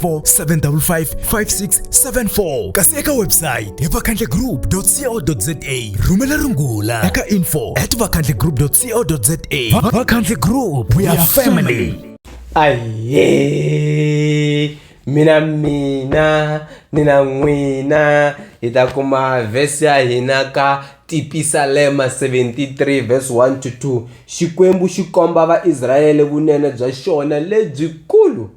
0754 kasi eka website hi vakhandlegroup co za rhumela rungula eka info at vakhandlegroup co za vakhandle group we are family aye mina mina nina n'wina hi ta kuma vhesi ya hina ka tipisalema 73 vhesi 1 to 2 xikwembu xi komba vaisrayele vunene bya xona lebyikulu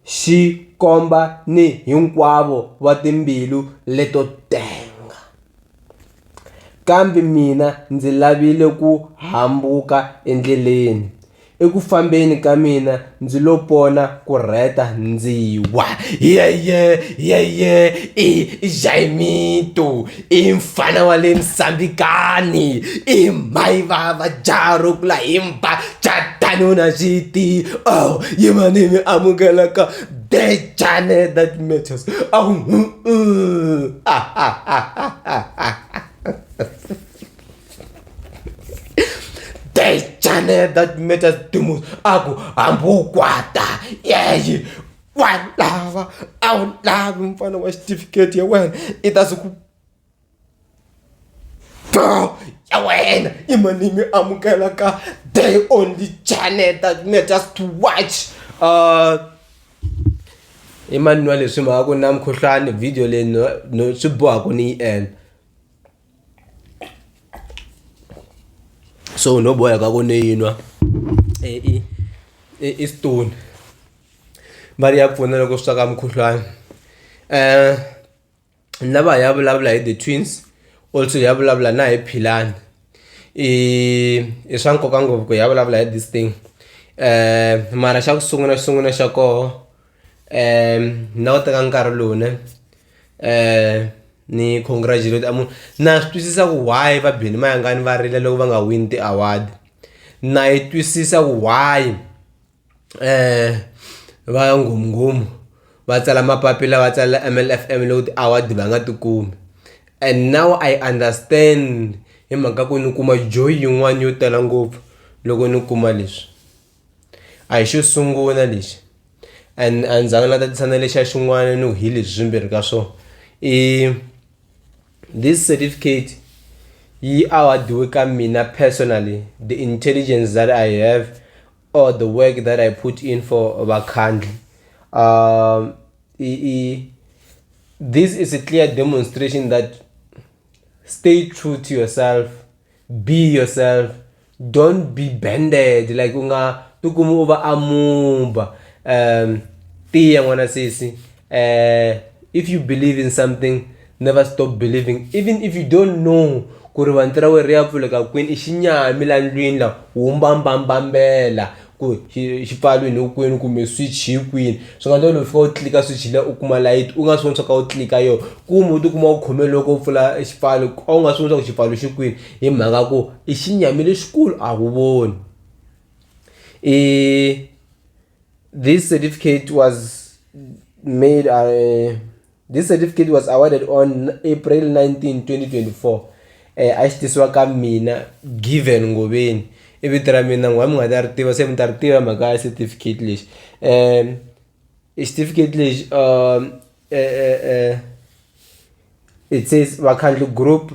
xi komba ni hinkwavo va timbilu leto tenga. Kambe mina ndzi lavile ku hambuka endleleni, eku fambeni ka mina ndzi lo pona ku rheta ndzi wa, Yeye! Yeye! I Jayimito! i mfana wa le nsambikani i mhayi va va jaha ro kula hi mba jatani u na xiti oh yimani mi amukelaka dejane that matters oh, mm, mm. Ah, ah, ah, ah, ah, ah. dejane that matters dumus aku hambi u kwata yeyi wa lava a wu lavi mfana wa xitifiketi ya wena i ta swi ku bro ya wena i mani mi amukela ka day only channel that me just to watch uh i mani wa leswi mhaka ku na mukhuhlwani video leyi no no swi boha ku ni yi endla so noboya kakuneyinwa e, istone va ri ya pfuna loko swi swaka mukhuhlwana um lava ya vulavula hi the twins also ya vulavula na hi philani i i swa nkoka ngopfu ku ya vulavula hi this thing um mara xa ku sungula xisungula xa koho um ni lava teka nkarhi lowu ne um ni congratulate a munhu na swi twisisa ku why va bini mayangani va rila loko va nga wini ti-award na yi twisisa ku why um va nghumnghumu va tsala mapapila va tsalela mlfm loko ti-award va nga ti kumi and now i understand hi mhaka ku ni kuma joy yin'wani yo tala ngopfu loko ni kuma leswi. A hi xo sungula lexi a ni zanga na tatisana lexa xin'wana ni hi leswi swimbirhi ka swona i this certificate yi award-iwe ka mina personally the intelligence that I have or the work that I put in for vakhandli um i i this is a clear demonstration that stay true to yourself be yourself. don't be bended like u nga tikumi u va amuba um tiya n'wana sesi uh, if you believe in something never stop believing even if you don't know ku ri vanti ra wena ri ya pfuleka kwini i xinyami la ndlwini la wu mbambambambela ku xi xi pfariwini hi kwini kumbe switch hi kwini swi nga endla u fika u tlilika switch liya u kuma layiti u nga swi voni swa ku u tlilika yona kumbe u tikuma u khome loko u pfula xipfalo a wu nga swi voni swa ku xipfalo xi kwini hi mhaka ya ku i xinyami lexikulu a wu voni i this certificate was made . This certificate was awarded on April 19, 2024. Eh, a xi tisiwa ka mina given ngoveni i vito ra mina n'wa mi nga ta ri tiva se mi ta ri tiva mhaka ya certificate lexi um i certificate lexi um it says vakhandli group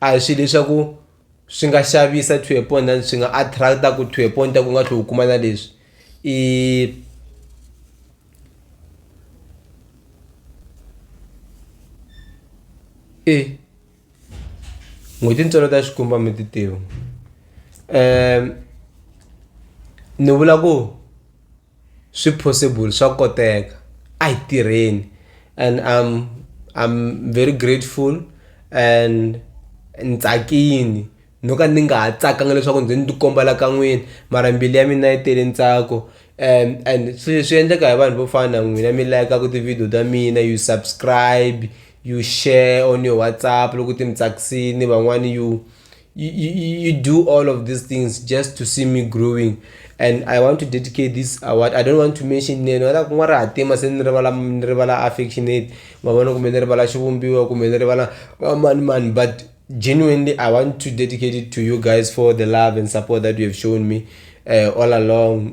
a hi swilo leswaku swi nga xavisa to a point and swi nga attract-a ku to a point ta ku nga tlhe u kuma na leswi i e n'hweti ntswalo ta xikumba mi ti tiva um ni vula ku swi possible swa koteka a hi tirheni and I'm I'm very grateful and ni tsakini no ka ni nga ha tsakanga leswaku ndzi ni ti komba la ka n'wina mara mbilu ya mina yi tele ntsako and and swi swi endleka hi vanhu vo fana na n'wina mi layikaku ti-video ta mina you subscribe you share on your WhatsApp loko ti mi tsakisini van'wani you you, you, you do all of these things just to see me growing and i want to dedicate this award i don't want to mention name oda kun'wa ri hatima se ni rivala ni rivala affectionate ma vona kumbe ni rivala xivumbiwa kumbe ni rivala mani mani but genuinely i want to dedicate it to you guys for the love and support that you have shown me uh, all along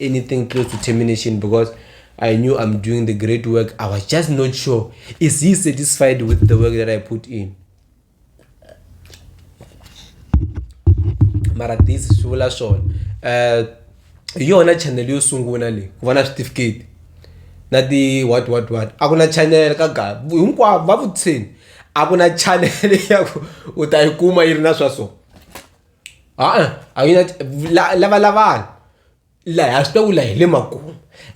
anything close to termination because I knew I'm doing the great work. I was just not sure. Is he satisfied with the work that I put in? mara this swi vula swona um eh, hi yona channel yo sungula leyi ku va na switifiketi na ti what what what a ku na channel ka ga hinkwavo va vutiseni a ku na channel ya ku u ta yi kuma yi ri na swa so ha-a a yi na la lavalavani laha ha swi tiva ku laha hi le makumu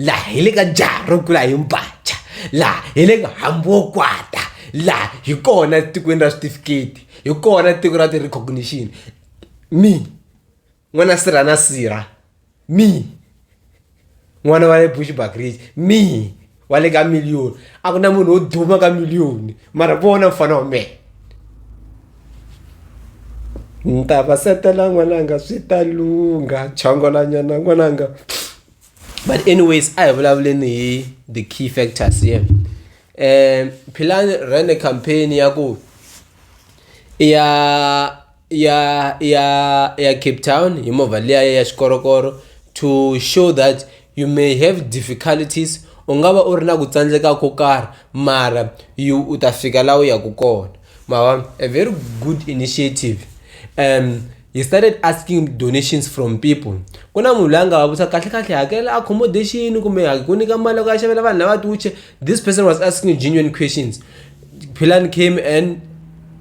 laha hi le ka jaha ro kula hi mbhaca laha hi le ka hambi wo kwata laha hi kona etikweni ra switifiketi hi kona tiko ra ti-recognition me n'wana sirha na sirha. me n'wana wa le bushback ridge me wa le ka millioni a ku na munhu wo duma ka millioni mara vona mfana wa mehe ni ta va setela n'wananga swi ta lungha chongolanyana n'wananga but anyways a hi vulavuleni hi the key factors ye um philani rene campaign ya ku i ya ya ya ya cape town hi movha liya ya xikorokoro to show that you may have difficulties u nga va u ri na ku tsandzeka ko karhi mara you u ta fika laha u yaka kona mavona a very good initiative um he started asking donations from people ku na munhu loyi a nga va vutisa kahle kahle hakela accommodation kumbe ku nyika mali loko ya xavela vanhu lava tiwuche this person was asking genuine questions philan came and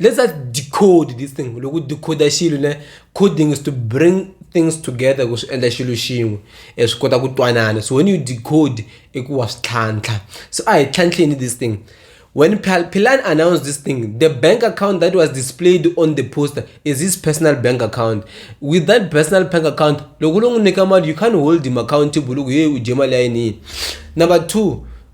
let's just decode this thing loko decoder xilo ne coding is to bring things together ku swi endla xilo xin'we e swi kota ku twanana so when you decode i ku wa swi tlhantlha so a hi tlhantlheni this thing when Pilan announced this thing, the bank account that was displayed on the poster is his personal bank account. With that personal bank account, you can't hold him accountable. Number two,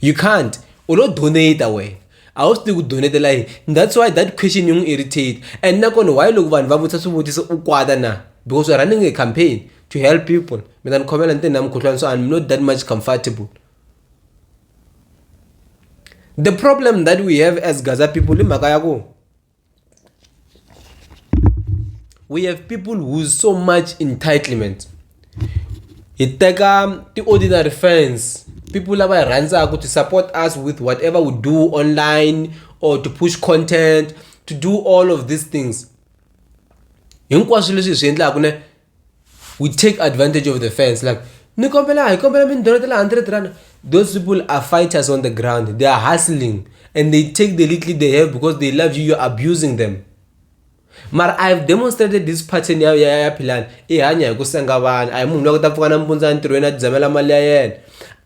you can't u lo donate wena a wu swi tivi ku donetela yini that's why that question yi n'wi irritate and nakona why loko vanhu va vutisa swivutiso u kwata na because we're running a campaign to help people mi ta ni khomela ni te na mukhuhlwana so i'm not that much comfortable the problem that we have as gaza people i mhaka ya ku we have people who's so much entitlement hi teka ti-ordinary fans people lava hi rhandzaka to support us with whatever we do online or to push content to do all of these things hinkwaswo leswi hi swi endlaka ne we take advantage of the fans like ni kombela hi kombela mindholo ta le 100 rand those people are fighters on the ground they are hustling and they take the little they have because they love you you're abusing them mara i have demonstrated this pattern ya ya ya philani i hanya hi ku senga vanhu a hi munhu loyi ku ta pfuka nampundzu entirhweni a tidzamela mali ya yena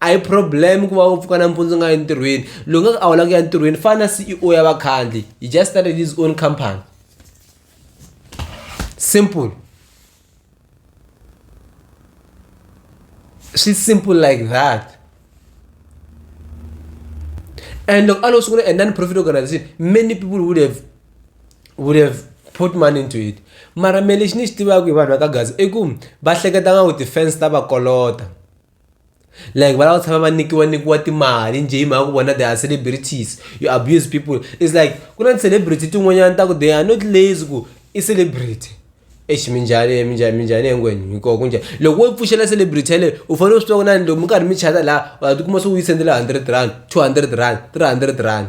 a hi problem ku va u pfuka nampundzu nga entirhweni loyi nga ku a wula ku ya entirhweni fana na ceo ya vakhandli he just started his own company simple swi simple like that and loko a lo sungula a non-profit organization many people would have would have put money into it mara me lexi ni xi tivaka hi vanhu va ka gaza i ku va hleketa nga ku ti-fans ta va kolota like va lava tshama va nikiwa nikiwa timali njhe hi mhaka ku vona they are celebrities you abuse people is like ku na ti-celebrity tin'wanyana ta ku they are not lazy ku i celebrity exi minjhani minjhani minjhani hinkwenu hikoho ku njhani loko wo pfuxela celebrity yaleyo u fanele u swi tiva ku na ni loko mi karhi mi chata laha wa tikuma se u yi sendela hundred rand two hundred rand three hundred rand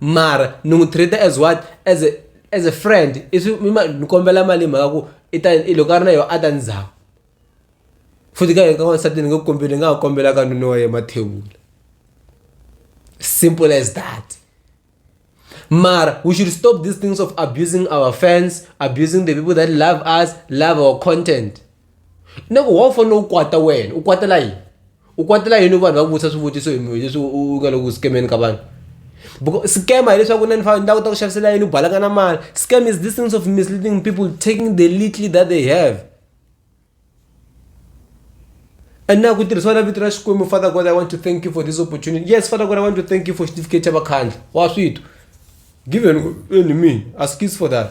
mara ni n'wi treat-a as what as a as a friend ni kombela mali hi mhaka ku i ta i loko a ri na yona a ta ni zama futhi ka hina ka n'wansati ni nge ku kombeli hi nga ha kombela ka nuna wa yena mathewula simple as that mara we should stop these things of abusing our fans abusing the people that love us love our content na ku wo fanele u kwata wena u kwatela yini u kwatela yini vanhu va ku vutisa swivutiso hi mhaka leswi u nga le ku scam-eni ka vanhu because scam hileswaku na ni fane ni ta kota ku xavisela yini u balaka na mali scam is this things of misleading people taking the little that they have and na ku tirhisiwa na vito ra xikwembu father god i want to thank you for this opportunity yes father god i want to thank you for certificate ya vakhandla wa swito given enemy ask for that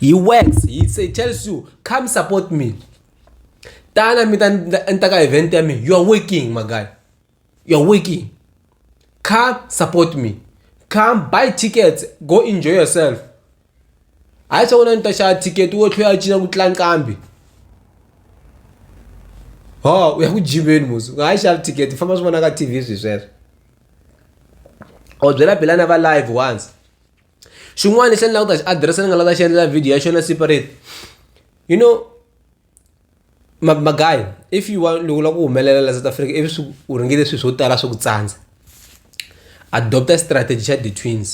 he works he say tells you come support me tana mi ta ni ta ka event ya mina you are working my guy you are working come support me come buy tickets go enjoy yourself hayi swa ku na ni ta xava ticket wo tlhe ya cina ku tlula nqambi ho u ya ku jimeni musi u nga ha yi xavi ticket famba swi vona ka T_V swi sweswo. or byela belana va live once xin'wana lexi ni lava ku ta xi adirese ni nga lava ta xi endlela video ya xona separate you know magayi if you want loko u lava ku humelela la south africa ivi swi u ringile swilo swo tala swi ku tsandza adopta strategy xa the twins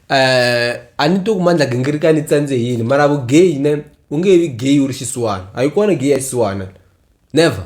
um a ni twi ku mandla gingirika ni tsandze yini mara vugeyi ne u nge vi geyi u ri xisiwana a yi kona geyi ya xisiwana never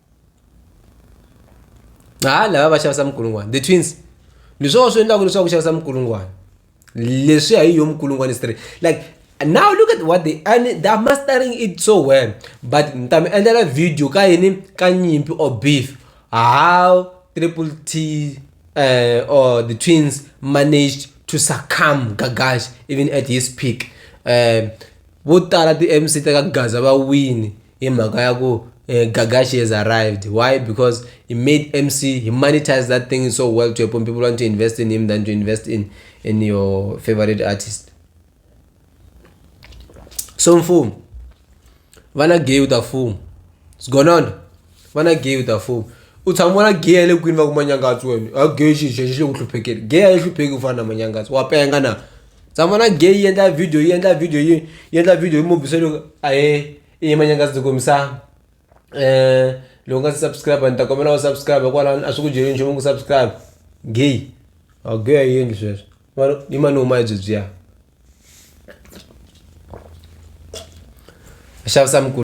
ha lava va xavisa minkulungwana the twins ni swona swi endlaka leswaku xavisa minkulungwana leswiya hi yo minkulungwana straight like now look at what they and they are mastering it so well but ni ta mi endlela video ka yini ka nyimpi or beef how triple t uh, or the twins managed to succumb gagash even at his peak um vo tala ti-mc ta ka gaza va wini hi mhaka ya ku Gaga she has arrived why because he made M_C he monetise that thing so well to a point people want to invest in him than to invest in in your favorite artist so mfumo vana gay u ta fuma sigonona vana gay u ta fuma u tshama vona gay ya le kwini va ku manyangatsi wena a gay xi xexi le ku hluphekeni gay a yi hlupheki ku fana na manyangatsi wa penga na tsamana gay yi endla video yi endla video yi yi endla video yi mobisa loko a he i yima nyanga ndzi kombisa um loko nga si subscribe ni ta kombela wa subscribe hikwalani a swi ku dyeli nchumu ku subscribe gay a gay a yi endli sweswo mara yi mani huma hi byebyiya xavisa mikulu.